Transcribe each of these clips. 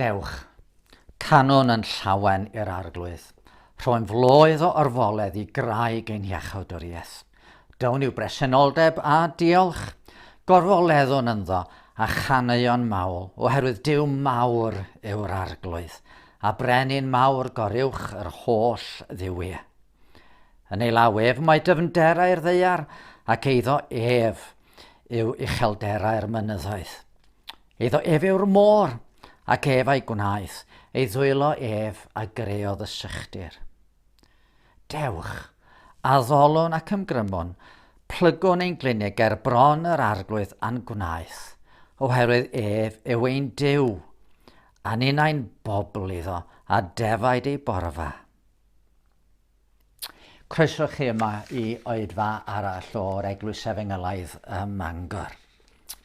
Dewch, canon yn llawen i'r arglwydd, rhoen floedd o orfoledd i graig ein hiachawdwriaeth. Down yw bresenoldeb a diolch. Gorfoleddwn ynddo a chaneuon mawl, oherwydd Duw mawr yw'r Arglwydd, a brenin mawr goruwch yr holl dduwiau. Yn ei law ef mae dyfnderau'r ddeiar, ac eiddo ef yw uchelderau'r mynyddoedd. Eiddo ef yw'r môr, ac ef a'i gwnaeth, ei ddwylo ef a greodd y sychdir. Dewch! Addolon ac ymgrymon, plygwn ein glinic ger bron yr Arglwydd a'n gwnaeth, oherwydd ef yw ein Duw, a ninnau'n bobl iddo, a defaid ei borfa. Croeso chi yma i oedfa arall o'r Eglwys Efengylaidd ym Mangor.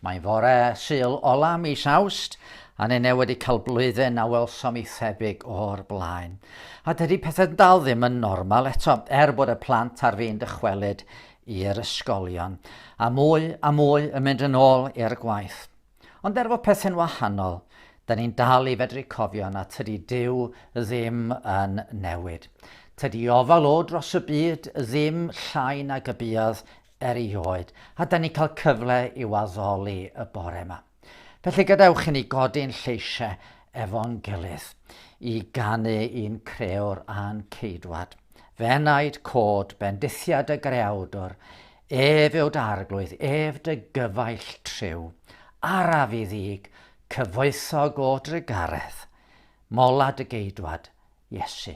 Mae'n fore Sul ola mis Awst, a ni neu wedi cael blwyddyn a welsom i thebyg o'r blaen. A dydy pethau dal ddim yn normal eto, er bod y plant ar fin dychwelyd i'r ysgolion, a mwy a mwy yn mynd yn ôl i'r gwaith. Ond er fod pethau'n wahanol, da ni'n dal i fedru cofio na tydy Dyw ddim yn newid. Tydy ofal o dros y byd ddim llai nag y buodd erioed, a da ni'n cael cyfle i'w addoli y bore yma. Felly gadewch i ni godi'n lleisiau efo'n gilydd i ganu i'n creo'r a'n ceidwad. Fe naid cod bendithiad y greawdwr, ef yw'd arglwydd, ef dy gyfaill triw, araf i ddig, cyfoethog o drugaredd, mola dy geidwad, Iesu.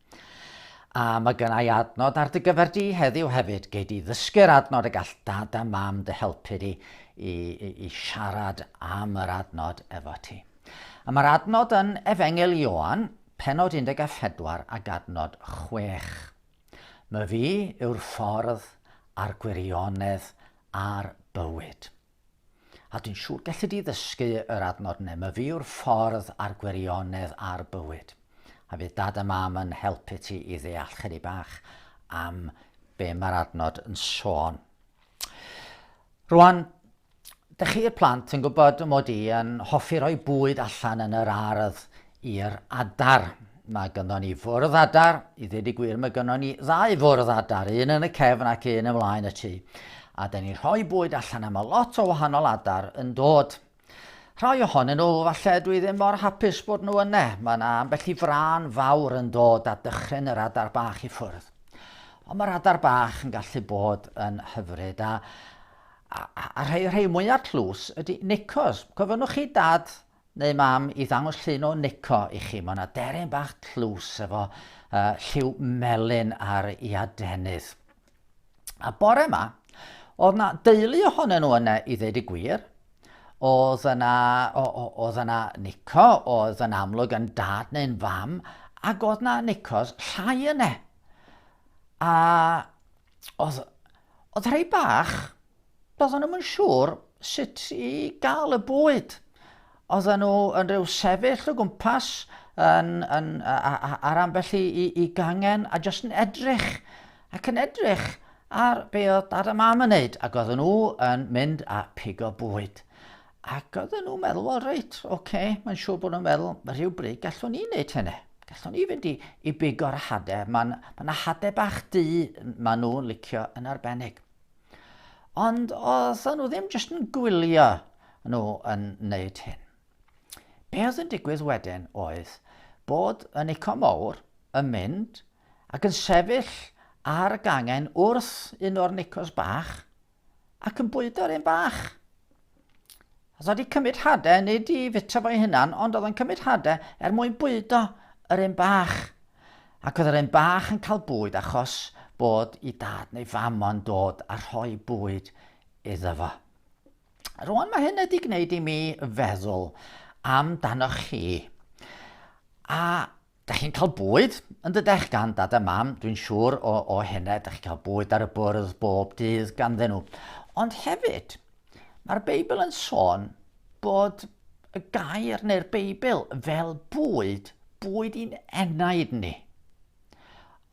A mae gen i adnod ar dy gyfer di heddiw hefyd. Gei di ddysgu'r adnod y gall dad a mam dy helpu di i, i, i siarad am yr adnod efo ti. A mae'r adnod yn Efengil Ioan, penod 14 a gadnod 6. Mae fi yw'r ffordd a'r gwirionedd a'r bywyd. A dwi'n siŵr gelli di ddysgu yr adnod ne myfi yw'r ffordd a'r gwirionedd a'r bywyd. A fydd dad a mam yn helpu ti i ddeall chydig bach am be mae'r adnod yn sôn. Rwan, dych chi'r plant yn gwybod mod i yn hoffi rhoi bwyd allan yn yr ardd i'r adar. Mae gynnon ni fwrdd adar, i ddweud y gwir mae gynnon ni ddau fwrdd adar, un yn y cefn ac un ymlaen y tŷ. A da ni'n rhoi bwyd allan am y lot o wahanol adar yn dod. Rhai ohonyn nhw, falle dwi ddim mor hapus bod nhw yna. Mae yna ambell i fran fawr yn dod a dychryn yr adar bach i ffwrdd. Ond mae'r adar bach yn gallu bod yn hyfryd. A, a, a rhai, rhai mwyaf tlws ydy nicos. Cofynnwch chi dad Neu mam i ddangos llun o Nico i chi, mae yna deryn bach tlws efo uh, lliw melyn ar i adenydd. A bore yma, oedd na deulu ohonyn nhw yna i ddeud y gwir, oedd yna, oedd yna Nico, oedd yn amlwg yn dad neu'n fam, ac oedd yna Nicos llai yna. A oedd, oedd rhai bach, doedden nhw'n yn siŵr sut i gael y bwyd. Oedden nhw yn rhyw sefyll o gwmpas yn, yn, ar ambell i, i, i gangen a jyst yn edrych ac yn edrych ar be oedd dad a mam yn neud ac oedden nhw yn mynd a pigo bwyd. Ac oedden nhw'n meddwl, wel reit, oce, okay, mae'n siŵr bod nhw'n meddwl, rhyw bryd gallwn ni wneud hynny. Gallwn ni fynd i, i big o'r hade. Mae'n ma yna hade bach du maen nhw'n licio yn arbennig. Ond oedden nhw ddim jyst yn gwylio nhw yn wneud hyn. Be oedd yn digwydd wedyn oedd bod y Nico Mowr yn mynd ac yn sefyll ar y gangen wrth un o'r Nicos bach, ac yn bwydo'r un bach. Os oedd wedi cymryd hade, nid i fita fo'i hunan, ond oedd yn cymryd hade er mwyn bwydo yr un bach. Ac oedd yr un bach yn cael bwyd achos bod i dad neu fam o'n dod a rhoi bwyd iddo fo. Rwan mae hyn wedi gwneud i mi feddwl am danoch chi. A Dach chi'n cael bwyd, yn dydech, gan dad a mam, dwi'n siŵr, o, o hynna, dach chi'n cael bwyd ar y bwrdd bob dydd ganddyn nhw. Ond hefyd, mae'r Beibl yn sôn bod y gair neu'r Beibl fel bwyd, bwyd i'n enaid ni.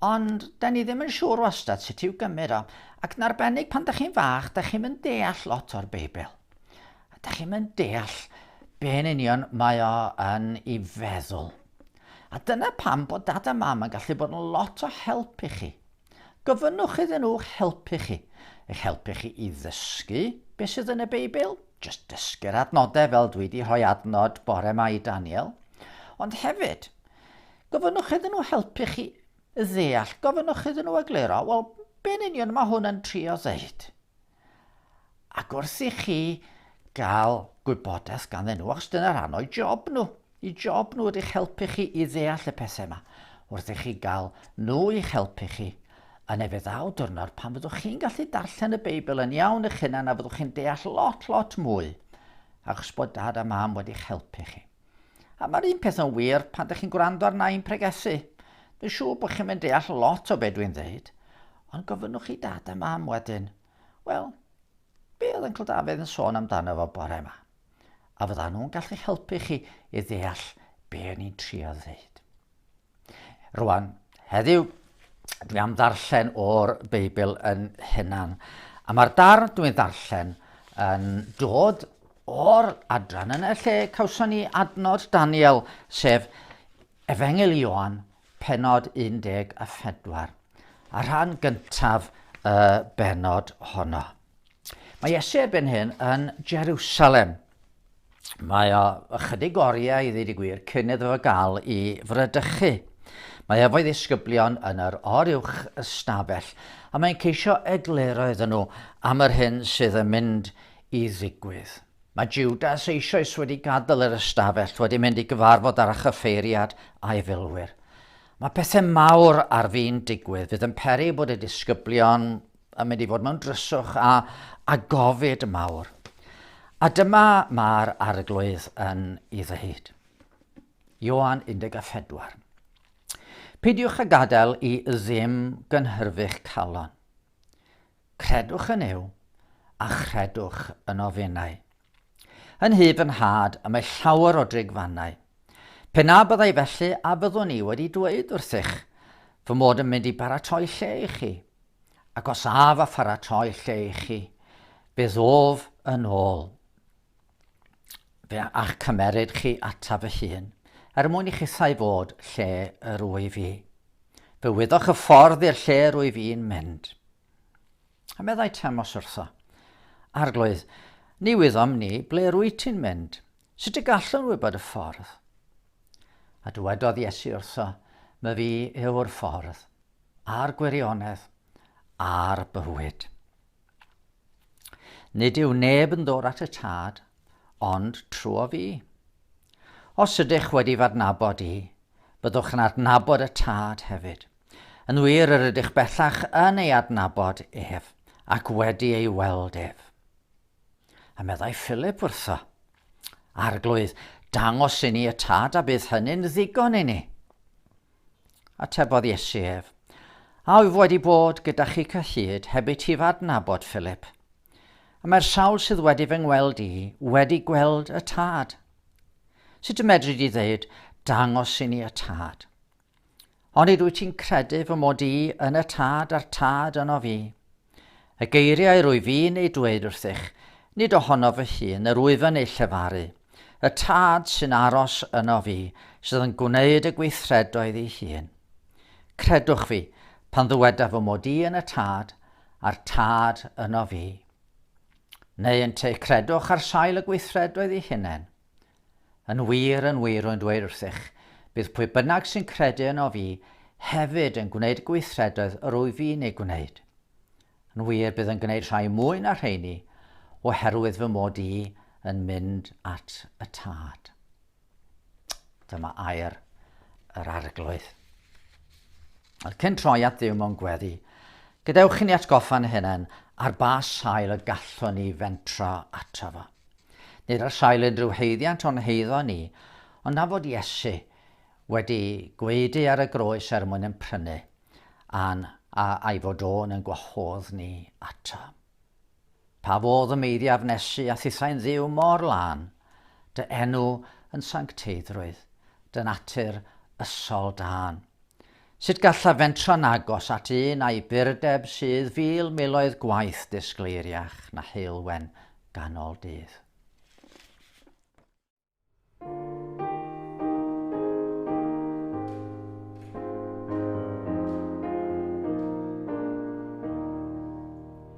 Ond da ni ddim yn siŵr wastad sut i'w gymryd o, ac yn arbennig pan da chi'n fach, da chi'n mynd deall lot o'r Beibl. Da chi'n mynd deall be'n union mae o yn ei feddwl. A dyna pam bod Dad a Mam yn gallu bod yn lot o help i chi. Gofynnwch iddyn nhw'ch helpu chi, eich helpu chi i ddysgu beth sydd yn y Beibl, jyst dysgu'r adnodau fel dwi wedi rhoi adnod bore 'ma i Daniel, ond hefyd, gofynnwch iddyn nhw helpu chi ddeall, gofynnwch iddyn nhw egluro, wel, be'n union mae hwn yn trio ddeud? Ac wrth i chi gael gwybodaeth ganddyn nhw, achos dyna rhan o'i job nhw, i job nhw ydych helpu chi i ddeall y pethau yma, wrth i chi gael nhw i'ch helpu chi, yn efe ddaw dwrnod pan fyddwch chi'n gallu darllen y Beibl yn iawn eich hunan a fyddwch chi'n deall lot, lot mwy, achos bod dad a mam wedi'ch helpu chi. A mae'r un peth yn wir pan dych chi'n gwrando arna i'n pregethu. Dwi'n siŵr bod chi'n mynd deall lot o be dwi'n ddeud, ond gofynnwch i dad a mam wedyn, wel, be oedd Yncl Dafydd yn sôn amdano fo bore yma? A fydda nhw'n gallu helpu chi i ddeall be o'n i'n trio ddeud. Rwan, heddiw, dwi am ddarllen o'r Beibl yn hunan. A mae'r darn dwi'n ddarllen yn dod o'r adran yn y lle cawson ni adnod Daniel, sef Efengil Ioan, penod 14, a rhan gyntaf y benod honno. Mae Iesu erbyn hyn yn Jerusalem. Mae o ychydig oriau i ddweud y gwir cyn iddo fo gael i frydychu. Mae efo'i ddisgyblion yn yr oruwch ystafell a mae'n ceisio egluro iddyn nhw am yr hyn sydd yn mynd i ddigwydd. Mae Judas eisoes wedi gadael yr ystafell, wedi mynd i gyfarfod ar chyffeiriad a'i filwyr. Mae pethau mawr ar fin digwydd fydd yn peri bod y disgyblion a mynd i fod mewn dryswch a, a gofid mawr. A dyma mae'r arglwydd yn ei ddweud. Ioan 14. Peidiwch a gadael i ddim gynhyrfu'ch calon. Credwch yn yw, a chredwch yn ofenau. Yn nhyb fy nhad y mae llawer o drigfannau. Pe na byddai felly a fyddwn i wedi dweud wrthych fy mod yn mynd i baratoi lle i chi? Ac os af a pharatoi lle i chi, fe ddof yn ôl fe a'ch cymeryd chi ata fy hun, er mwyn i chithau fod lle yr wyf i. Fe wyddoch y ffordd i'r lle yr wyf i'n mynd. A meddai Temos wrtho, Arglwydd, ni wyddom ni ble rwy ti'n mynd. Sut y gallwn wybod y ffordd? A dywedodd Iesu wrtho, My fi yw'r ffordd, a'r gwirionedd, a'r bywyd. Nid yw neb yn ddod at y tad, ond trwy fi. Os ydych wedi fadnabod i, byddwch yn adnabod y tad hefyd. Yn wir, yr ydych bellach yn ei adnabod ef, ac wedi ei weld ef. A meddai Philip wrtho, Arglwydd, dangos i ni y tad a bydd hynny'n ddigon i ni. Atebodd Iesu ef, A wyf wedi bod gyda chi cyhyd heb i ti fadnabod, Philip? A mae'r sawl sydd wedi fy ngweld i wedi gweld y tad. Sut y medru di ddeud, dangos i ni y tad? Onid wyt ti'n credu fy mod i yn y tad a'r tad yno fi? Y geiriau rwy fi'n eu dweud wrthych, nid ohono fy hun yr wyf yn eu llefaru, y tad sy'n aros yno fi, sydd yn gwneud y gweithredoedd ei hun. Credwch fi, pan ddyweda fy mod i yn y tad, a'r tad yno fi. Neu yn te credwch ar sail y gweithredoedd ei hunain. Yn wir, yn wir, rwy'n dweud wrthych, bydd pwy bynnag sy'n credu yno fi hefyd yn gwneud y gweithredoedd yr wyf fi'n eu gwneud. Yn wir, bydd yn gwneud rhai mwy na rheini, oherwydd fy mod i yn mynd at y tad. Dyma air yr arglwydd. Ond cyn troi at ddiw mewn gweddi, gadewch i ni atgoffa'n hynny ar ba sail y gallwn ni fentro ato fo. Nid ar sail unrhyw haeddiant o'n heiddo ni, ond na fod Iesu wedi gwaedu ar y groes er mwyn yn prynu a'n a a'i fod o yn yn gwahodd ni ato. Pa fodd y meiddiaf nesu a thithau'n ddiw mor lân, dy enw yn sancteiddrwydd, dy natur ysol dân. Sut gallaf fentro'n agos at un a'i burdeb sydd fil miloedd gwaith disgleiriach na heulwen ganol dydd?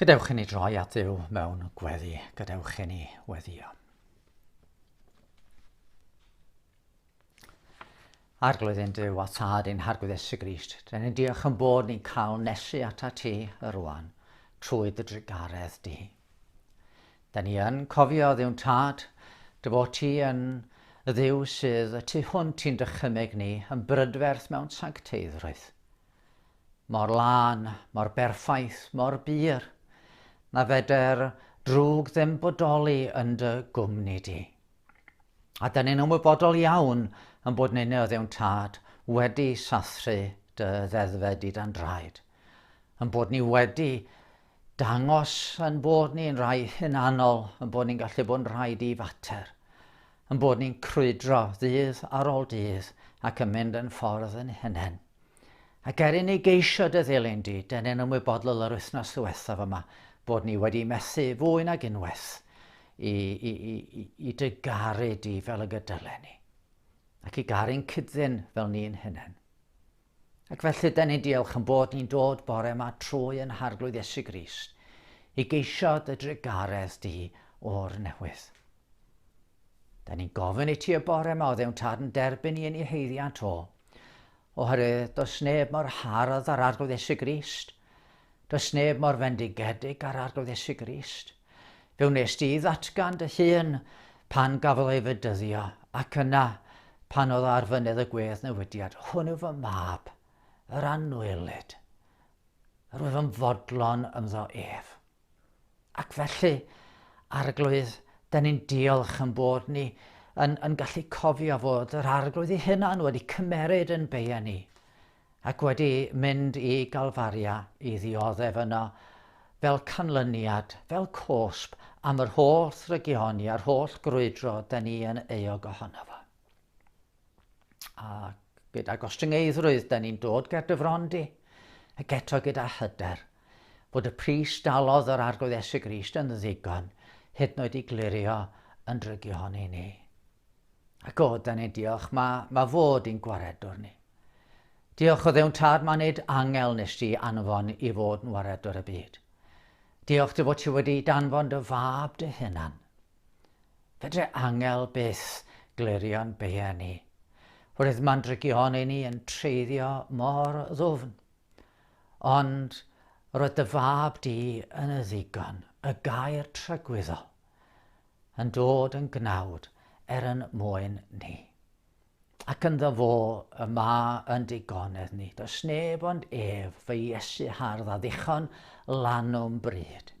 Gadewch i ni droi at Dduw mewn gweddi. Gadewch i ni weddio. Arglwydd yn Duw a Tad yn Harglwydd Esu Grist, dyn ni'n diolch yn bod ni'n cael nesu ata ti y rwan, trwy dy drugaredd di. Dyn ni yn cofio ddiwn Tad, dy fod ti yn y ddiw sydd y tu hwnt i'n dychymeg ni yn brydferth mewn sancteiddrwydd. Mor lân, mor berffaith, mor bur, na feder drwg ddim bodoli yn dy gwmni di. A dyn ni'n ymwybodol iawn yn bod nynne o ddewn tad wedi sathru dy ddeddfe di dan draed, yn bod ni wedi dangos yn bod ni'n rhai hunanol, yn bod ni'n gallu bod yn rhai di fater. Ein bod ni'n crwydro ddydd ar ôl dydd ac yn mynd yn ffordd yn hunain. Ac er inni geisio dy ddilyn di, dyn ni'n ymwybodol yr wythnos ddiwethaf yma bod ni wedi methu fwy nag unwaith i, i, i, i dy garu di fel y gydylen ni, ac i garu'n cydddyn fel ni'n hunain. Ac felly, da ni'n diolch yn bod ni'n dod bore yma trwy yn harglwydd Iesu Grist i geisio dy drugaredd di o'r newydd. Da ni'n gofyn i ti y bore yma o ddewn tad yn derbyn i yn ei heiddiant o, oherwydd does neb mor hardd ar arglwydd Iesu Grist, Does neb mor fendigedig â'r Arglwydd Iesu Grist. Fe wnes di ddatgan dy hun pan gafodd ei fedyddio, ac yna pan oedd ar fynydd y gwedd newidiad, hwn yw fy mab, yr anwylyd, yr wyf yn fodlon ymddo ef. Ac felly, Arglwydd, da ni'n diolch yn bod ni yn, yn gallu cofio fod yr Arglwydd ei hunan wedi cymeryd yn beia ni, ac wedi mynd i Galfaria i ddioddef yno fel canlyniad, fel cosb am yr holl drygioni a'r holl grwydro da ni yn euog ohono fo. A gyda gostyngeiddrwydd da ni'n dod ger dy fron di, ac eto gyda hyder, bod y pris dalodd yr Arglwydd Esu Grist yn ddigon, hyd noed i glirio yn drygioni ni. A god da ni diolch, mae, mae fod i'n gwaredwr ni. Diolch o ddewn tad, mae nid angel nes di anfon i fod yn waredwr y byd. Diolch dy fod ti wedi danfon dy fab dy hunan. Fedre angel byth glirio'n beia ni. Roedd mandrygion i ni yn treiddio mor ddwfn. Ond roedd dy fab di yn y ddigon, y gair tragwyddol. yn dod yn gnawd er yn mwyn ni. Ac ynddo fo y ma yn digonedd ni, does neb ond ef, fy Iesu hardd a ddichon lanwm bryd.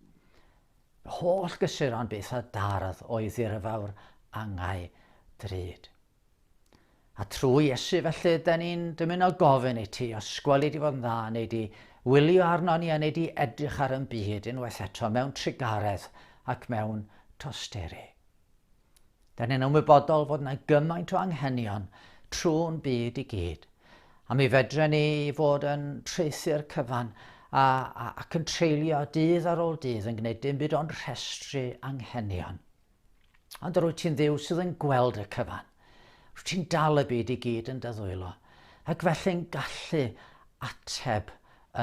Holl gysuron byth a dardd o'i ddirfawr angau drud. A trwy Iesu felly, ydy ni'n dymuno gofyn i ti os gweli di fod yn dda neu di wylio arno ni a neu di edrych ar yn byd unwaith eto mewn trugaredd ac mewn tosteri. Da ni'n ymwybodol fod yna gymaint o anghenion trwy'n byd i gyd, a mi fedre ni fod yn traethu'r cyfan a, a, ac yn treulio dydd ar ôl dydd yn gwneud dim byd ond rhestru anghenion. Ond rwyt ti'n dduw sydd yn gweld y cyfan. Rwyt ti'n dal y byd i gyd yn dyddwylo, ac felly'n gallu ateb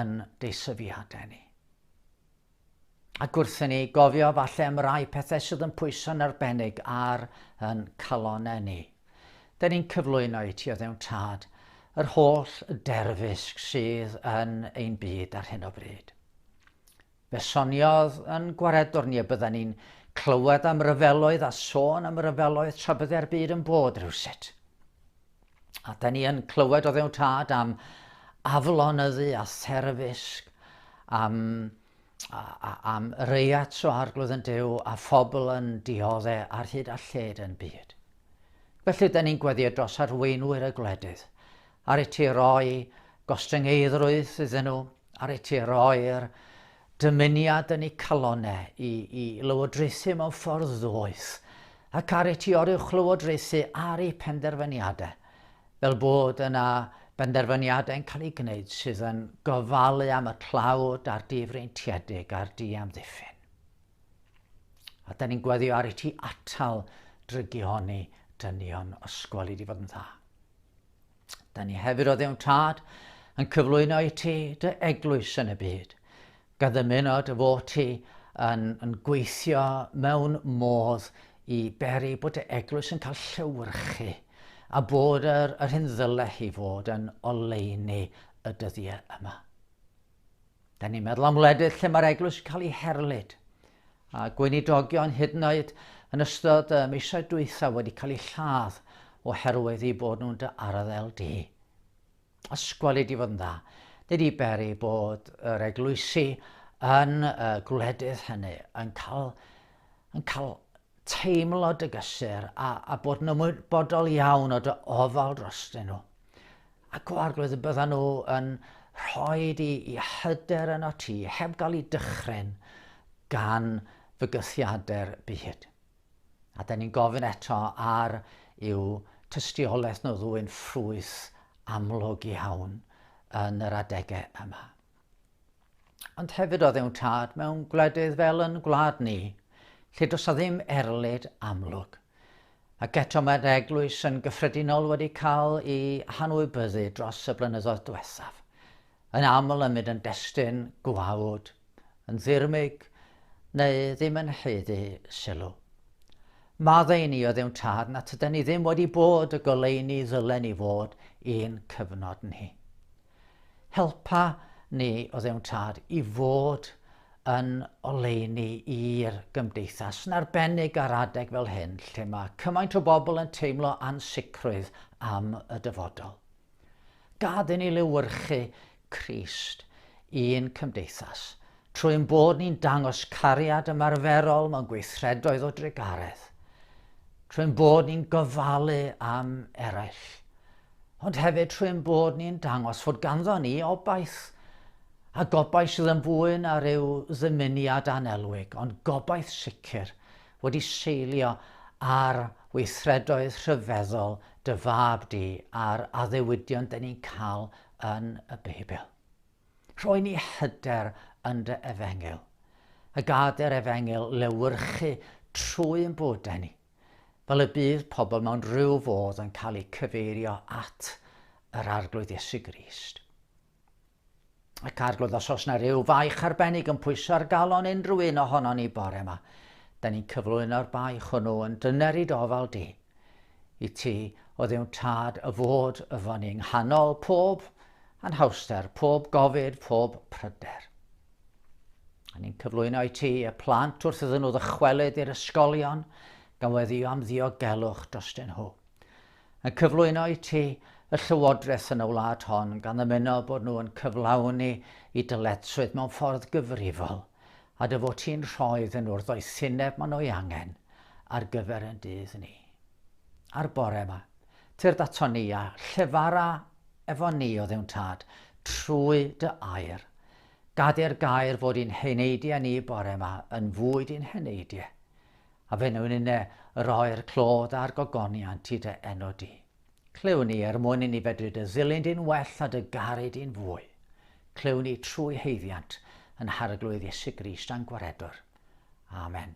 yn deisyfiadau ni. Ac wrthyn ni gofio falle am rai pethau sydd yn pwyso'n arbennig ar yn calonau ni. Dyn ni'n cyflwyno i ti o ddewn tad yr holl derfysg sydd yn ein byd ar hyn o bryd. Fe soniodd yn gwaredwr ni y bydden ni'n clywed am ryfeloedd a sôn am ryfeloedd tra bydde'r byd yn bod rhywsut. A da ni yn clywed o ddewn tad am aflonyddu a therfysg, am, a, a, am reiat o arglwydd yn dew a phobl yn diodde ar hyd a lled yn byd. Felly, da ni'n gweddio dros arweinwyr y gwledydd Ar y ti roi gostyngeiddrwydd iddyn nhw, ar y ti roi'r dymuniad yn eu calonau i, i lywodraethu mewn ffordd ddoeth, ac ar y ti oruwch lywodraethu ar eu penderfyniadau, fel bod yna benderfyniadau yn cael eu gwneud sydd yn gofalu am y tlawd a'r difreintiedig a'r diamddiffyn. A da ni'n gweddio ar y ti atal drygioni dynion ysgol i di fod yn dda. Da ni hefyd o ddewn tad yn cyflwyno i ti dy eglwys yn y byd. Gan ddymuno dy fod ti yn, yn gweithio mewn modd i beri bod dy eglwys yn cael llewyrchu a bod yr, yr hyn ddyle hi fod yn oleini y dyddiau yma. Da ni'n meddwl am wledydd lle mae'r eglwys yn cael ei herlid, a gweinidogion hyd yn oed yn ystod y misoedd dwytha wedi cael eu lladd oherwydd eu bod nhw'n dy arddel di. Ysgweli di fod yn dda. Nid i beri bod yr eglwysi yn y gwledydd hynny yn cael, yn cael teimlo dy gysur a, a bod yn ymwybodol iawn o dy ofal drostyn nhw. A go arglwydd y byddan nhw yn rhoi i, i hyder yno ti, heb gael ei dychryn gan fygythiadau'r byd. A da ni'n gofyn eto ar yw tystiolaeth nhw ddwy'n ffrwyth amlwg iawn yn yr adegau yma. Ond hefyd oedd e'n tad mewn gwledydd fel yn gwlad ni, lle does a ddim erlid amlwg. Ac eto mae'r eglwys yn gyffredinol wedi cael ei hanwybyddu dros y blynyddoedd diwethaf. Yn aml yn mynd yn destun gwawd, yn ddirmyg, neu ddim yn heiddi sylw. Maddau ni oedd ewn tad na tyda ni ddim wedi bod y goleini ddylen ni fod i'n cyfnod ni. Helpa ni, o Dduw'n Tad, i fod yn oleuni i'r gymdeithas, yn arbennig ar adeg fel hyn lle mae cymaint o bobl yn teimlo ansicrwydd am y dyfodol. Gad i ni lewyrchu Crist i'n cymdeithas, trwy'n bod ni'n dangos cariad ymarferol mewn gweithredoedd o drugaredd, trwy'n bod ni'n gofalu am eraill, ond hefyd trwy ein bod ni'n dangos fod ganddo ni obaith, a gobaith sydd yn fwy na rhyw ddymuniad anelwig, ond gobaith sicr, wedi seilio ar weithredoedd rhyfeddol dy fab di a'r addewidion dyn ni'n cael yn y Beibl. Rhoi ni hyder yn dy efengyl, a gadair efengyl lewyrchu trwy ein bodau ni. Fel y bydd pobl mewn rhyw fodd yn cael eu cyfeirio at yr Arglwydd Iesu Grist. Ac Arglwydd, os oes na ryw faich arbennig yn pwyso ar galon unrhyw un ohono ni bore yma, da ni'n cyflwyno'r baich hwnnw yn dyner i dofal di, i ti o ddewn tad y fod yfo ni yng nghanol pob anhawster, pob gofid, pob pryder. A ni'n cyflwyno i ti y plant wrth iddyn nhw ddychwelyd i'r ysgolion gan weddio am ddiogelwch drostyn nhw. Yn cyflwyno i ti y llywodraeth yn y wlad hon gan ymuno bod nhw yn cyflawni i dyletswydd mewn ffordd gyfrifol a dy fod ti'n rhoi iddyn nhw'r ddoethineb maen nhw'i angen ar gyfer yn dydd ni. A'r bore yma, tyrd ato ni a llefara efo ni o ddewn tad trwy dy air Gadair gair fod i'n heneidiau ni bore yma yn fwyd i'n heneidiau, a fe wnawn inne roi'r clodd a'r gogoniant i dy enw di. Clyw ni er mwyn i ni fedru dy ddilyn di'n well a dy garu di'n fwy. Clyw ni trwy haeddiant yn Harglwydd Iesu Grist a'n Gwaredwr. Amen.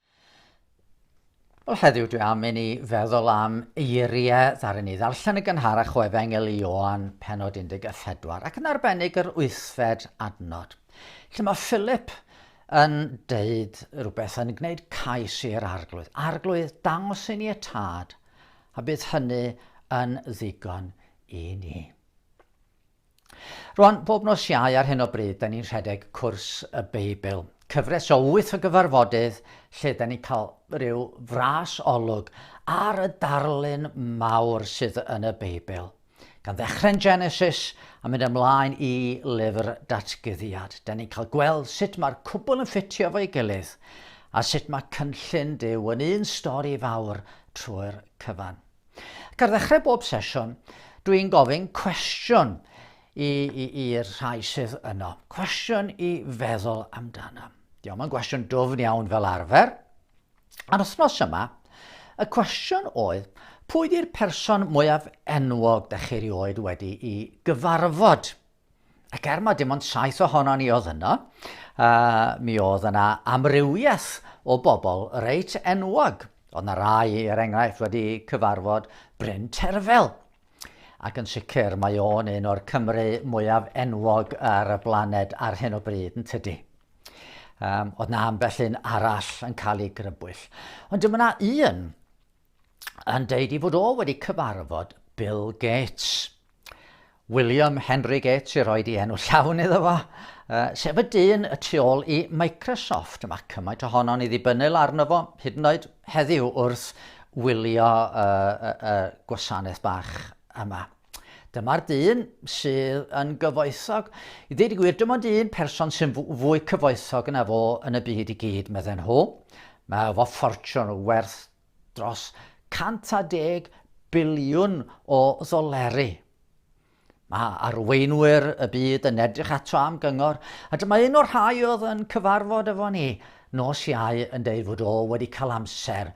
Wel, heddiw dwi am i ni feddwl am eiriau ddaru ni ddarllen y gynharach o Efengyl i Oan, penod 14, ac yn arbennig yr wythfed adnod, lle mae Philip yn deud rhywbeth yn gwneud cais i'r arglwydd. Arglwydd, dangos i ni y tad, a bydd hynny yn ddigon i ni. Rwan, bob nos Iau ar hyn o bryd, 'da ni'n rhedeg Cwrs y Beibl, cyfres o wyth o gyfarfodydd lle 'da ni'n cael rhyw fras olwg ar y darlun mawr sydd yn y Beibl. Gan ddechrau'n Genesis a mynd ymlaen i lyfr Datguddiad, 'da ni'n cael gweld sut mae'r cwbl yn ffitio fo'i gilydd a sut mae cynllun Duw yn un stori fawr trwy'r cyfan. Ac ar ddechrau bob sesiwn, dwi'n gofyn cwestiwn i'r rhai sydd yno. Cwestiwn i feddwl amdano. Diolch, mae'n gwestiwn dwfn iawn fel arfer. A'r wythnos yma, y cwestiwn oedd, pwy di'r person mwyaf enwog da chi rioed wedi i gyfarfod? Ac er mai dim ond saith ohonon ni oedd yno, uh, mi oedd yna amrywiaeth o bobl reit enwog. Oedd yna rai, er enghraifft, wedi cyfarfod Bryn Terfel. Ac yn sicr, mae o'n un o'r Cymru mwyaf enwog ar y blaned ar hyn o bryd, yn tydi? Um, oedd na ambell un arall yn cael ei grybwyll. Ond dyma na un yn deud ei fod o wedi cyfarfod Bill Gates. William Henry Gates i roi di enw llawn iddo fo, uh, sef y dyn y tu ôl i Microsoft. Mae cymaint ohono'n i ddibynnel arno fo, hyd yn oed heddiw wrth wylio y uh, uh, uh, gwasanaeth bach yma. Dyma'r dyn sydd yn gyfoethog. I ddweud y gwir, dim ond un person sy'n fwy cyfoethog yna fo yn y byd i gyd, medden nhw. Mae fo ffortiwn werth dros 110 biliwn o ddoleri. Mae arweinwyr y byd yn edrych ato am gyngor, a dyma un o'r rhai oedd yn cyfarfod efo ni nos iau yn deud fod o wedi cael amser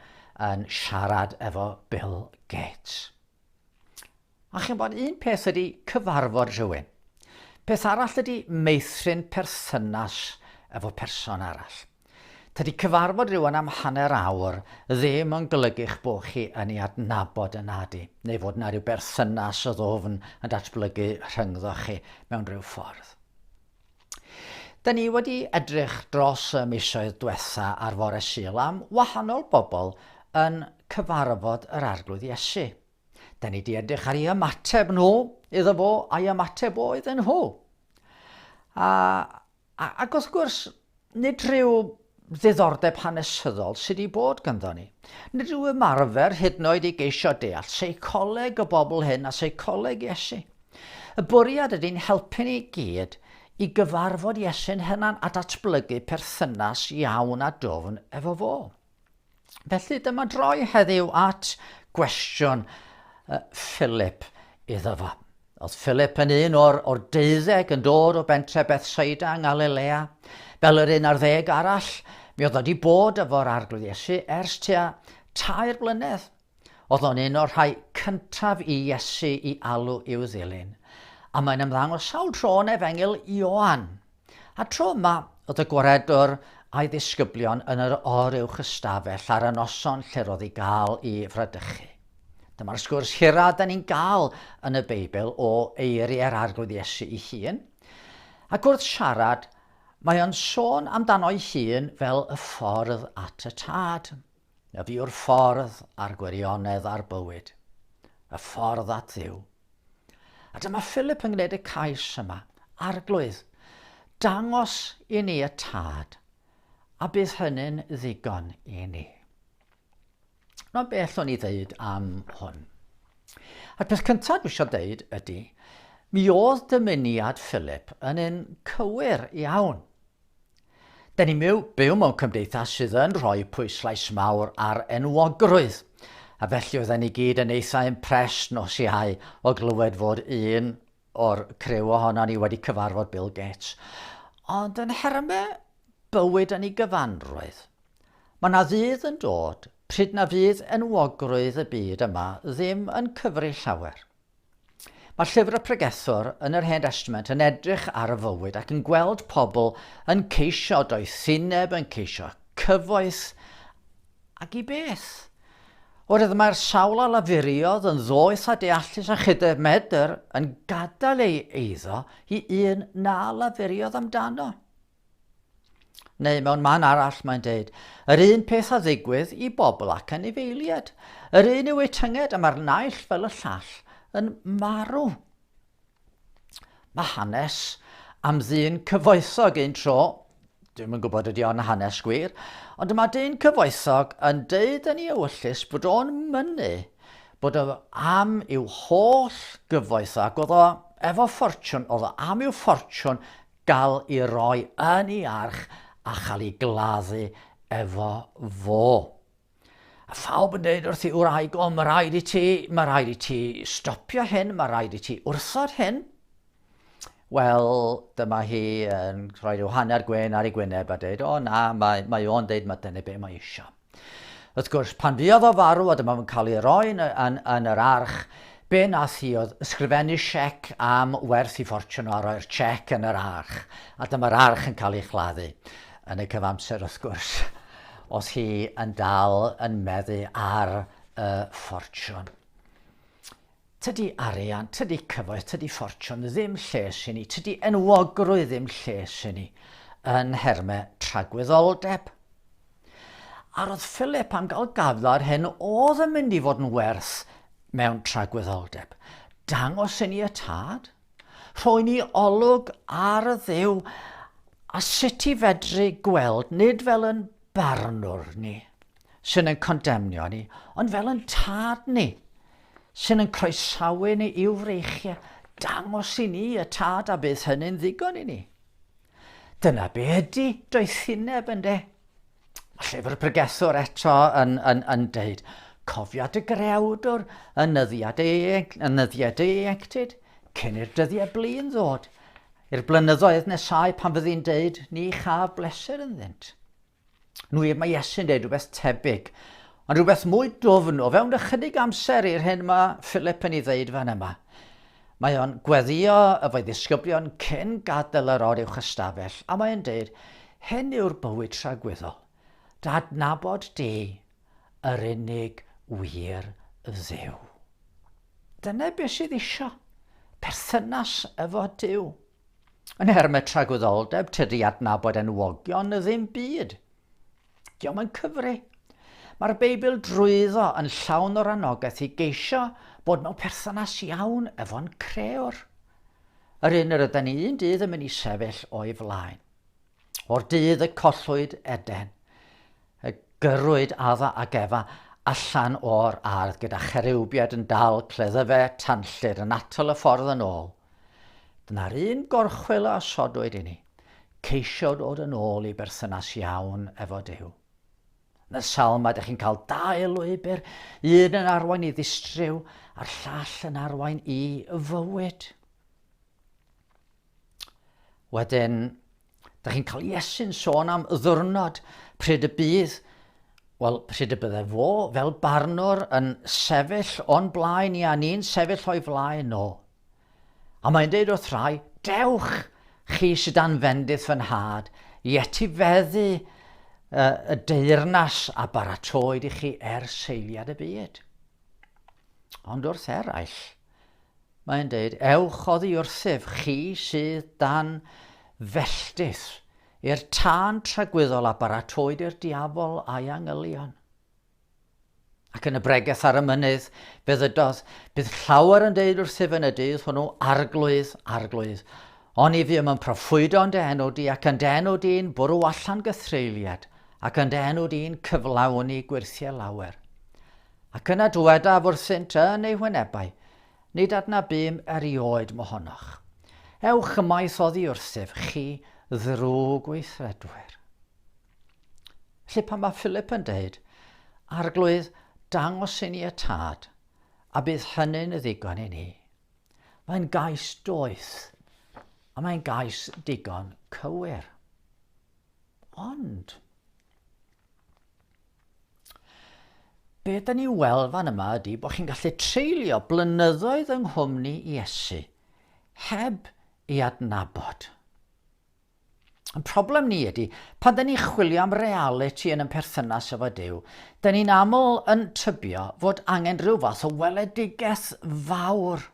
yn siarad efo Bill Gates. A ch'mod, un peth ydy cyfarfod rhywun. Peth arall ydy meithrin perthynas efo person arall. Tydi cyfarfod rhywun am hanner awr ddim yn golygu'ch bo' chi yn ei adnabod yn nadi, neu fod 'na ryw berthynas o ddwfn yn datblygu rhyngddoch chi mewn rhyw ffordd. Da ni wedi edrych dros y misoedd dwetha ar Fore Sul am wahanol bobl yn cyfarfod yr Arglwydd Iesu. Da ni di edrych ar ei ymateb nhw iddo fo a'i ymateb o iddyn nhw. A, a, ac wrth gwrs, nid rhyw ddiddordeb hanesyddol sydd wedi bod gynddo ni. Nid rhyw ymarfer hyd yn oed i geisio deall seicoleg y bobl hyn a seicoleg Iesu. Y bwriad ydy'n helpu ni gyd i gyfarfod Iesu'n hynan a datblygu perthynas iawn a dofn efo fo. Felly dyma droi heddiw at gwestiwn uh, Philip iddo fo. Oedd Philip yn un o'r, or deuddeg yn dod o bentre Bethsaida yng Ngalilea, fel yr un ar ddeg arall, mi oedd wedi bod efo'r arglwydd Iesu ers tua tair blynedd. Oedd o'n un o'r rhai cyntaf i Iesu i alw i'w ddilyn, a mae'n ymddangos sawl tro yn Efengyl Ioan. A tro yma, oedd y gwaredwr a'i ddisgyblion yn yr or uwch ystafell ar y noson lle'r oedd i gael i fradychu. Dyma'r sgwrs hira da ni'n gael yn y Beibl o eiriau'r Arglwydd Iesu i hun, ac wrth siarad, mae o'n sôn amdano'i hun fel y ffordd at y tad. Ef yw'r ffordd a'r gwirionedd a'r bywyd, y ffordd at ddiw. A dyma Philip yn gwneud y cais yma, arglwydd, dangos i ni y tad, a bydd hynny'n ddigon i ni. Mae'n bell o'n i ddeud am hwn. A'r peth cyntaf dwi eisiau deud ydy, mi oedd dymuniad Philip yn un cywir iawn. Da ni'n byw, byw mewn cymdeithas sydd yn rhoi pwyslais mawr ar enwogrwydd, a felly oedden ni gyd yn eitha impressed nos Iau o glywed fod un o'r criw ohono ni wedi cyfarfod Bill Gates. Ond yn nherme bywyd yn ei gyfanrwydd, mae yna ddydd yn dod pryd na fydd enwogrwydd y byd yma ddim yn cyfri llawer. Mae llyfr y pregethwr yn yr Hen Testament yn edrych ar y fywyd ac yn gweld pobl yn ceisio doethineb, yn ceisio cyfoeth, ac i beth? Oherwydd mae'r sawl a lafuriodd yn ddoeth a deallus a chydef medr yn gadael ei eiddo i un na lafuriodd amdano. Neu mewn man arall mae'n deud, yr un peth a ddigwydd i bobl ac anifeiliad. Yr un yw eu tynged a mae'r naill fel y llall yn marw. Mae hanes am ddyn cyfoethog un tro, dwi'n yn gwybod ydy o'n hanes gwir, ond mae dyn cyfoethog yn deud yn ei ewyllus bod o'n mynnu bod o am i'w holl gyfoethog, oedd o efo ffortiwn, oedd o am i'w ffortiwn gael i roi yn ei arch a chael ei gladdu efo fo. A phawb yn dweud wrth ei wraig, o, mae rhaid i ti, mae rhaid i ti stopio hyn, mae rhaid i ti wrthod hyn. Wel, dyma hi yn rhoi rhyw hanner gwyn ar ei gwyneb a dweud, o na, mae, mae o'n dweud mae dyna be mae eisiau. Wrth gwrs, pan fuodd o farw, a dyma fo'n cael ei roi yn, yn, yn yr arch, be nath hi oedd ysgrifennu siec am werth i ffortiwn a roi'r siec yn yr arch, a dyma'r arch yn cael ei chladdu. Yn y cyfamser, wrth gwrs, oedd hi yn dal yn meddu ar y ffortiwn. Tydi arian, tydi cyfoeth, tydi ffortiwn ddim lles i ni, tydi enwogrwydd ddim lles i ni, yn nhermau tragwyddoldeb. A roedd Philip am gael gafla'r hyn oedd yn mynd i fod yn werth mewn tragwyddoldeb. Dangos i ni y tad, rhoi ni olwg ar y ddew a sut i fedru gweld, nid fel yn barnwr ni, sy'n yn condemnio ni, ond fel yn tad ni, sy'n yn croesawu ni i'w freichiau, dangos i ni y tad a bydd hynny'n ddigon i ni. Dyna be ydy doethineb yn de. Mae llyfr pregethwr eto yn, yn, yn deud, cofiad y grewdwr yn nyddiad ei, yn nyddiad ei enctid, cyn i'r dyddiau blin ddod, i'r blynyddoedd nesau pan fyddi'n deud, ni chaf bleser ynddynt. Yn wir, mae Iesu'n dweud rhywbeth tebyg, ond rhywbeth mwy dwfn o fewn ychydig amser i'r hyn mae Philip yn ei ddeud fan yma. Mae o'n gweddio efo'i ddisgyblion cyn gadael yr or uwch ystafell, a mae'n dweud, hyn yw'r bywyd tragwyddol, dadnabod di, yr unig wir ddew. Dyna beth sydd eisiau, perthynas efo Dyw. Yn nhermau tragwyddoldeb, tydi adnabod enwogion y ddim byd. Diom yn cyfri. Mae'r Beibl drwyddo yn llawn o'r anogaeth i geisio bod mewn perthynas iawn efo'n creor. Yr un yr yda ni un dydd yn mynd i sefyll o'i flaen. O'r dydd y collwyd Eden, y gyrwyd adda ac efa allan o'r ardd gyda cherewbiad yn dal cleddyfe tanllyd yn atal y ffordd yn ôl. Dyna'r un gorchwyl a osodwyd inni, ceisio dod yn ôl i berthynas iawn efo Duw. Yn y salm mae ydych chi'n cael dau lwybr, un yn arwain i ddistryw a'r llall yn arwain i fywyd. Wedyn, Da chi'n cael Iesu'n sôn am y ddwrnod pryd y bydd, wel, pryd y bydde fo fel barnwr yn sefyll o'n blaen i a ni'n sefyll o'i flaen o. A mae'n deud wrth rhai, dewch chi sydd dan fendith fy nhad i etifeddu uh, y deyrnas a baratoed i chi er seiliad y byd. Ond wrth eraill, Mae'n deud, Ewch oddi wrthyf, chi sydd dan felltith, i'r tân tragwyddol a baratoed i'r diafol a'i angylion. Ac yn y bregeth ar y mynydd, fe ddydodd, bydd llawer yn deud wrthyf yn y dydd hwnnw, arglwydd, arglwydd, O'n i ddim yn proffwydo yn dy enw di, ac yn dy enw di'n bwrw allan gythreiliad, ac yn dy enw di'n cyflawni gwyrthiau lawer. Ac yna dywedaf wrthynt yn eu hwynebau, Nid adna bum erioed mohonoch. Ewch ymaith oddi wrthyf, chi ddrwg gweithredwyr. Felly pan mae Philip yn dweud, Arglwydd, dangos i ni y tad, a bydd hynny'n ddigon i ni. Mae'n gais doeth, a mae'n gais digon cywir. Ond, Be da ni'n weld fan yma ydy bod chi'n gallu treulio blynyddoedd yng nghwmni Iesu heb i adnabod. Y problem ni ydy, pan da ni'n chwilio am reality yn yn perthynas efo Dyw, da ni'n aml yn tybio fod angen rhyw fath o weledigaeth fawr.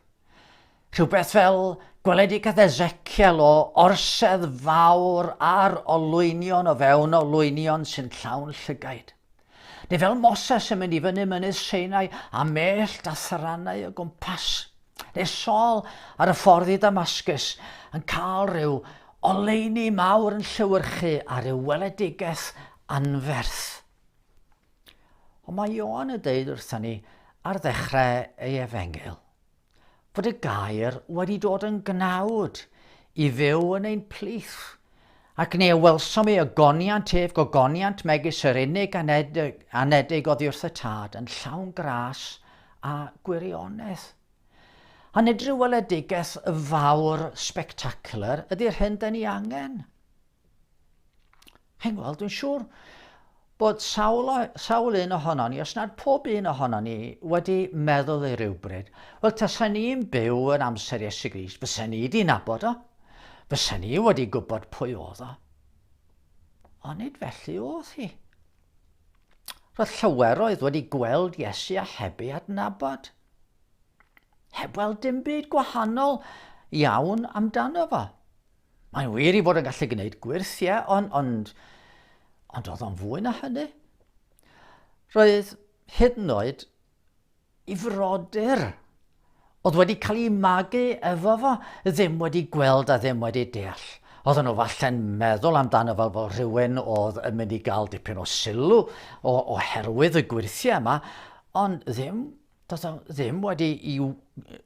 Rhywbeth fel gweledigaeth Ezekiel o orsedd fawr ar olwynion o fewn olwynion sy'n llawn llygaid. Neu fel Moses yn mynd i fyny mynydd Seinau a mellt a thrannau o gwmpas. Neu Saul ar y ffordd i Damascus yn cael rhyw oleuni mawr yn llewyrchu a rhyw weledigaeth anferth. Ond mae Ioan yn dweud wrthyn ni ar ddechrau ei efengyl, fod y gair wedi dod yn gnawd i fyw yn ein plith, ac ni a welsom ei ogoniant ef gogoniant megis yr unig anedig, anedig oddi wrth y tad yn llawn gras a gwirionedd. A nid rhyw weledigaeth fawr spectacular ydy'r hyn da ni angen. Chi'n gweld, dwi'n siŵr bod sawl, o, sawl un ohono ni, os nad pob un ohono ni, wedi meddwl i rywbryd, wel, tasa ni'n byw yn amser Iesu Grist, fysa ni wedi nabod o, fysa ni wedi gwybod pwy oedd o. Ond nid felly oedd hi. Roedd llaweroedd wedi gweld Iesu a heb ei adnabod. Heb weld dim byd gwahanol iawn amdano fo. Mae'n wir i fod yn gallu gwneud gwyrth, ie, ond, ond, ond oedd o'n fwy na hynny. Roedd hyd yn oed i frodyr oedd wedi cael ei magu efo fo, ddim wedi gweld a ddim wedi deall. Oedden nhw falle'n meddwl amdano fel bod rhywun oedd yn mynd i gael dipyn o sylw oherwydd y gwirthiau yma, ond ddim Doedden nhw ddim wedi i...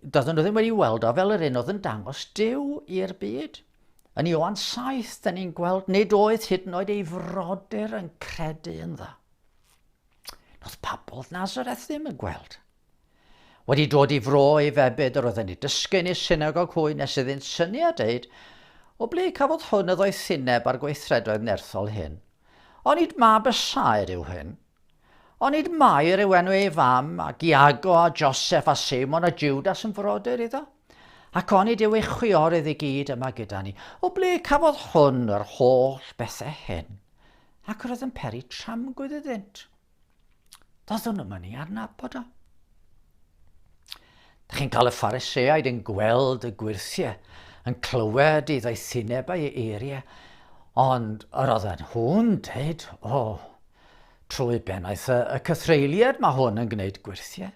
Doedden nhw ddim wedi i weld o fel yr un oedd yn dangos Dyw i'r byd. Yn Ioan 7, da ni'n gweld nid oedd hyd yn oed ei frodyr yn credu yn dda. Doedd pobl Nazareth ddim yn gweld. Wedi dod i fro ei febyd, yr oedd yn ei dysgu yn ei synagog hwy nes iddynt syniad deud, o ble cafodd hwn y ddoethineb a'r gweithredoedd nerthol hyn. Onid mab y saer yw hyn? Onid Mair yw enw ei fam, ac Iago a Joseph a Seimon a Judas yn frodyr iddo? Ac onid yw ei chwiorydd i gyd yma gyda ni? O ble cafodd hwn yr holl bethau hyn? Ac roedd yn peri tramgwydd iddynt. Doeddwn nhw'n mynd i adnabod o. Da chi'n cael y phariseaid yn gweld y gwirthiau, yn clywed i ddoethinebau ei eiriau, ond yr oedd nhw'n dweud, o, Trwy bennaeth y, y cythreuliad mae hwn yn gwneud gwirthie.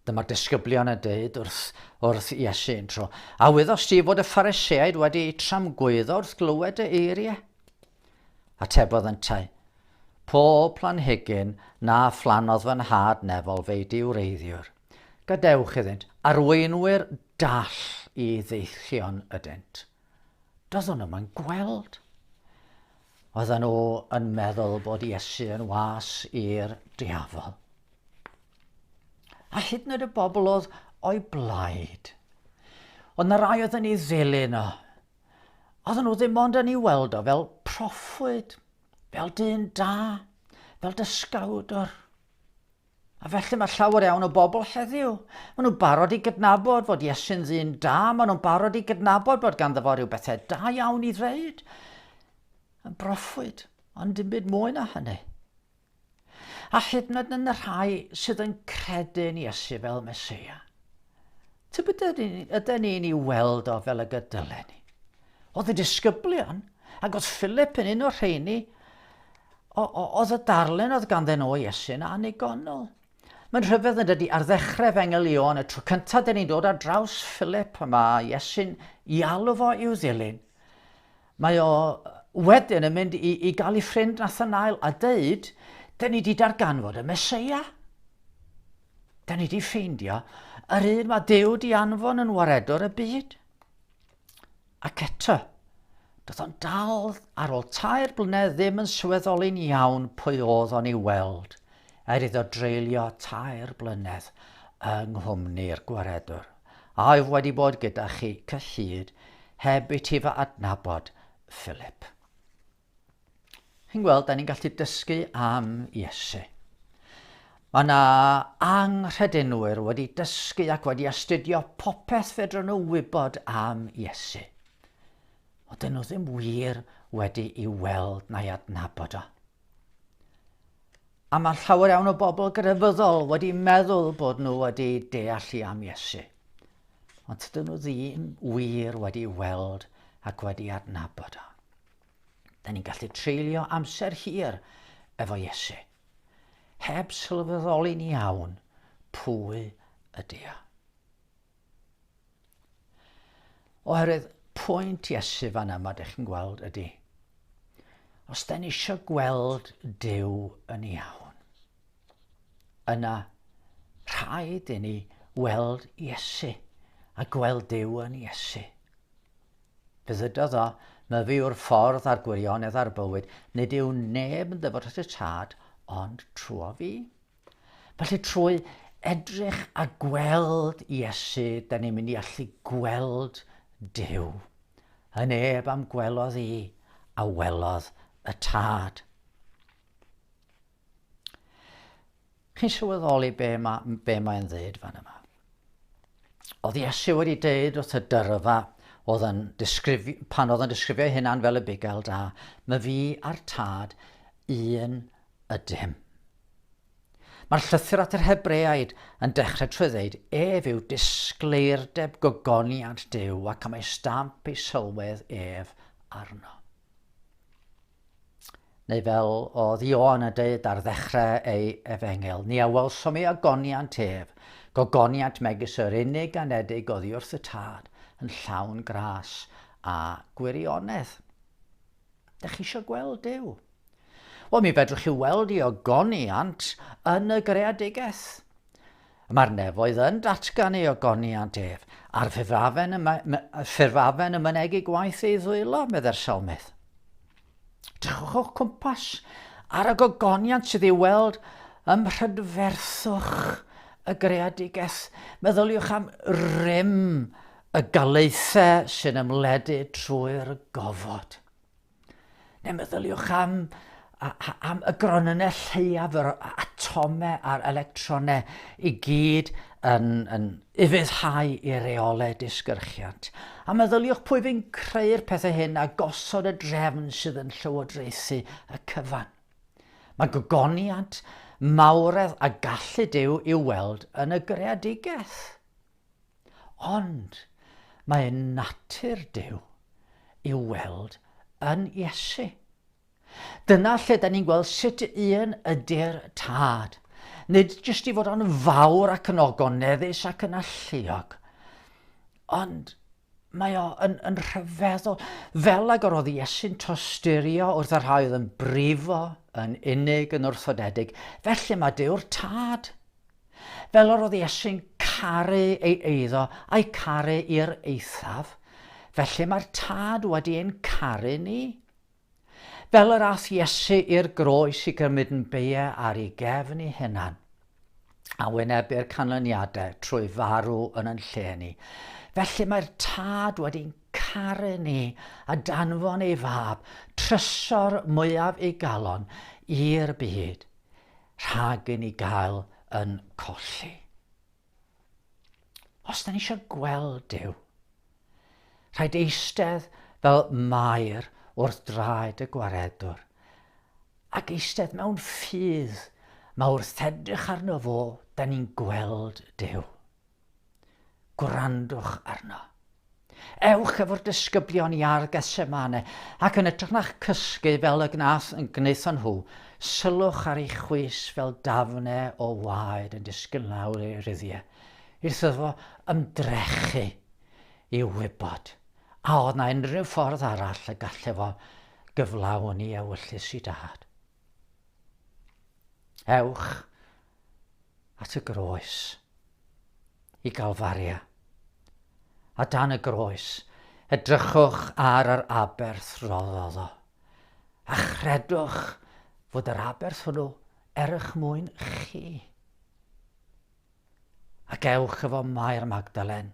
Dyma'r disgyblion yn dweud wrth, wrth Iesu yn tro. A wyddost ti fod y phariseaid wedi eu tramgwyddo wrth glywed y eiriau? Atebodd yntau, Pob planhigyn na phlannodd fy nhad nefol fei diwreiddiwr. Gadewch iddynt, arweinwyr dall i ddeichion ydynt. Doeddwn yma'n gweld. Oedden nhw yn meddwl bod Iesu yn was i'r diafol. A hyd yn oed y bobl oedd o'i blaid. Oedd na rai oedd yn ei ddilyn o. Oedden nhw ddim ond yn ei weld o fel proffwyd, fel dyn da, fel dysgawdwr. A felly mae llawer iawn o bobl heddiw, maen nhw'n barod i gydnabod fod Iesu'n ddyn da, maen nhw'n barod i gydnabod bod ganddo fo rhyw bethau da iawn i ddweud. Yn broffwyd, ond dim byd mwy na hynny. A hyd yn oed yn y rhai sydd yn credu yn Iesu fel Mesoea. Tybed ydy ni'n ei weld o fel y gydylen ni? Oedd y disgyblion, ac oedd Philip yn un o'r rheini, oedd y darllen oedd ganddyn nhw Iesu yn annigonol. Mae'n rhyfedd yn dydy ar ddechrau fe ngelio'n y tro cyntaf dyn ni'n dod ar draws Philip a mae Iesu'n i alw fo i'w ddilyn. Mae o wedyn yn mynd i, i gael ei ffrind Nathanael a dweud, dyn ni wedi darganfod y Mesoea. Da ni wedi ffeindio yr un mae Duw di anfon yn waredwr y byd. Ac eto, doedd o'n dal ar ôl tair blynedd ddim yn sylweddoli'n iawn pwy oedd o'n ei weld, er iddo dreulio tair blynedd yng nghwmni'r gwaredwr. Aef wedi bod gyda chi cyllid heb i ti fy adnabod, Philip. Chi'n gweld, da ni'n gallu dysgu am Iesu. Mae yna anghredenwyr wedi dysgu ac wedi astudio popeth fedrwn nhw wybod am Iesu. Ond dyn nhw ddim wir wedi i weld na'i adnabod o. A mae llawer iawn o bobl grefyddol wedi meddwl bod nhw wedi deallu am Iesu. Ond dyn nhw ddim wir wedi weld ac wedi adnabod o. Da ni'n gallu treulio amser hir efo Iesu, heb sylweddoli'n iawn pwy ydy o. Oherwydd pwynt Iesu fan yma, ydych chi'n gweld, ydy. Os da ni eisiau gweld Dyw yn iawn, yna rhaid i ni weld Iesu a gweld Dyw yn Iesu. Dywedodd o, Myfi yw'r ffordd a'r gwirionedd a'r bywyd, nid yw neb yn ddyfod at y Tad ond trwyo fi. Felly trwy edrych a gweld Iesu, da ni'n mynd i allu gweld Dyw. Yn neb am gwelodd i, a welodd y Tad. Chi'n sylweddoli be mae, be mae'n ddeud fan yma? Oedd Iesu wedi deud wrth y dyrfa oedd yn disgrifio, pan oedd yn disgrifio ei hunan fel y bugel da, mae fi a'r tad un ydym. Mae'r llythyr at yr Hebreaid yn dechrau trwy ddeud ef yw disgleirdeb gogoniant Dyw ac am ei stamp ei sylwedd ef arno. Neu fel oedd Ioan yn dweud ar ddechrau ei efengyl, ni a welsom i ogoniant ef, gogoniant megis yr unig anedig oddi wrth y tad, yn llawn gras a gwirionedd. Dych chi eisiau gweld Dyw? Wel, mi fedrwch chi weld i ogoniant yn y greadigaeth. Mae'r nefoedd yn datgan ei ogoniant ef, a'r ffurfafen yn, ffurfafen yn mynegu gwaith ei ddwylo, medde'r salmydd. Drychwch o'ch cwmpas ar y gogoniant sydd ei weld ym mhrydferthwch y greadigaeth. Meddyliwch am rym y galaethau sy'n ymledu trwy'r gofod. Neu meddyliwch am, am y gronynnau lleiaf yr atomau a'r electronau i gyd yn, yn ufuddhau i reolau disgyrchiant. A meddyliwch pwy fi'n creu'r pethau hyn a gosod y drefn sydd yn llywodraethu y cyfan. Mae gogoniant, mawredd a gallu Dyw i'w weld yn y greadigaeth. Ond mae natur Duw i'w weld yn Iesu. Dyna lle da ni'n gweld sut un ydy'r tad. Nid jyst i fod o'n fawr ac yn ogoneddus ac yn alluog, ond Mae o yn, yn rhyfeddol. Fel ag yr oedd Iesu'n tosturio wrth y rhai oedd yn brifo, yn unig, yn wrthodedig, felly mae Dew'r Tad. Fel yr oedd Iesu'n caru ei eiddo a'i caru i'r eithaf, felly mae'r Tad wedi ein caru ni. Fel yr ath Iesu i'r groes i gymryd yn beie ar ei gefn ei hunan, a wynebu'r canlyniadau trwy farw yn yn lle ni, felly mae'r Tad wedi'n caru ni a danfon ei Fab, trysor mwyaf ei galon, i'r byd, rhag i ni gael yn colli. Os da ni eisiau gweld Duw, rhaid eistedd fel mair wrth draed y gwaredwr, ac eistedd mewn ffydd mae wrth edrych arno fo, da ni'n gweld Duw. Gwrandwch arno. Ewch efo'r disgyblion i Ardd Gethsemane, ac yn ytrach na'ch cysgu fel y gnath, gwnaethon nhw, sylwch ar ei chwys fel dafne o waed yn disgyn lawr ei ruddiau, wrth iddo ymdrechu i wybod a oedd na unrhyw ffordd arall y gall efo gyflawni ewyllys i dad. Ewch at y groes, i Galfaria. A dan y groes, edrychwch ar yr aberth roddodd o, a chredwch fod yr aberth hwnnw er eich mwyn chi. Ac ewch efo Mair Magdalen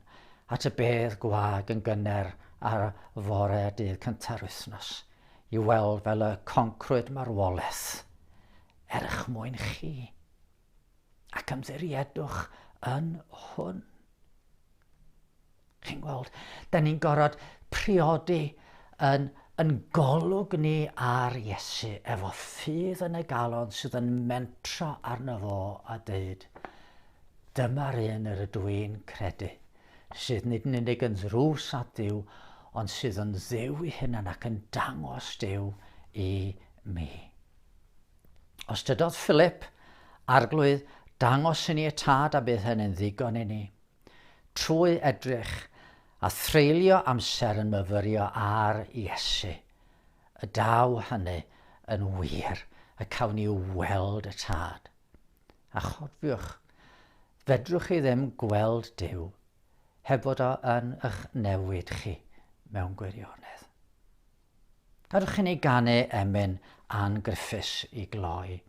at y bedd gwag yn gynner ar fore dydd cynta'r wythnos, i weld fel y concrwyd marwolaeth er eich mwyn chi, ac ymddiriedwch yn hwn. Chi'n gweld, da ni'n gorfod priodi yn, yn golwg ni ar Iesu efo ffydd yn y galon sydd yn mentro arno fo a dweud, dyma'r un yr ydw i'n credu, sydd nid yn unig yn ddrws at Dduw, ond sydd yn ddew i hunan ac yn dangos dew i mi. Os dydodd Philip, Arglwydd, dangos i ni y tad a bydd hynny'n ddigon i ni. Trwy edrych a threulio amser yn myfyrio ar Iesu, y daw hynny yn wir y cawn ni weld y tad. A chofiwch, fedrwch chi ddim gweld Dyw heb fod o yn eich newid chi mewn gwirionedd. Perchen i ganu emyn Ann Griffiths i gloi.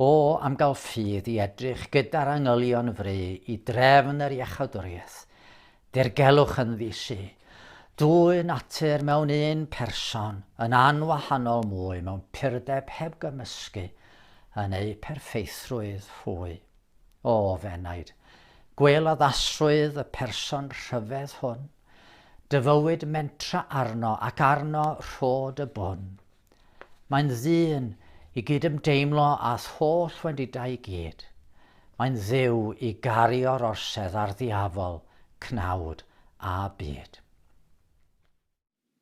O, am gael ffydd i edrych gyda'r angylion fry i drefn yr iachawdwriaeth. Dirgelwch yn ddi-su. Dwy natur mewn un person, yn anwahanol mwy mewn purdeb heb gymysgu yn eu perffeithrwydd hwy. O, f'enaid, gwel addasrwydd y person rhyfedd hwn. Dyfywyd mentra arno ac arno rhod y bwn. Mae'n ddyn i gydymdeimlo â'th holl wendidau i gyd. Mae'n dduw i gario'r orsedd a'r ddiafol, cnawd a byd.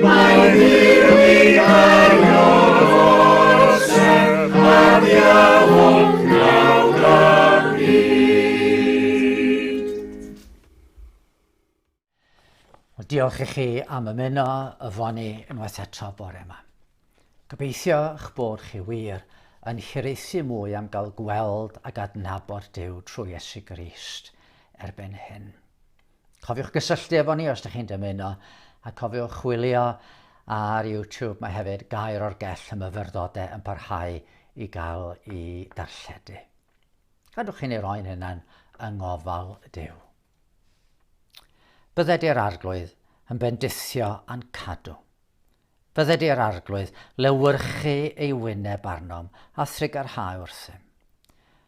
Mae Dduw yn orsedd ar iawlwch nawr a pryd. Wel, diolch i chi am ymuno y foni unwaith eto bore yma. Gobeithio eich bod chi wir yn hiraethu mwy am gael gweld ac adnabod Duw trwy Iesu Grist erbyn hyn. Cofiwch gysylltu efo ni os dych chi'n dymuno, a cofiwch chwilio ar YouTube, mae hefyd Gair o'r Gell y Myfyrdode yn parhau i gael i darlledu. Gadwch i ni roi'n hunan yng ngofal Duw. Bydde di'r arglwydd yn bendithio a'n cadw. Bydde di'r arglwydd lewyrchu ei wyneb arnom a thrigarhau wrthym.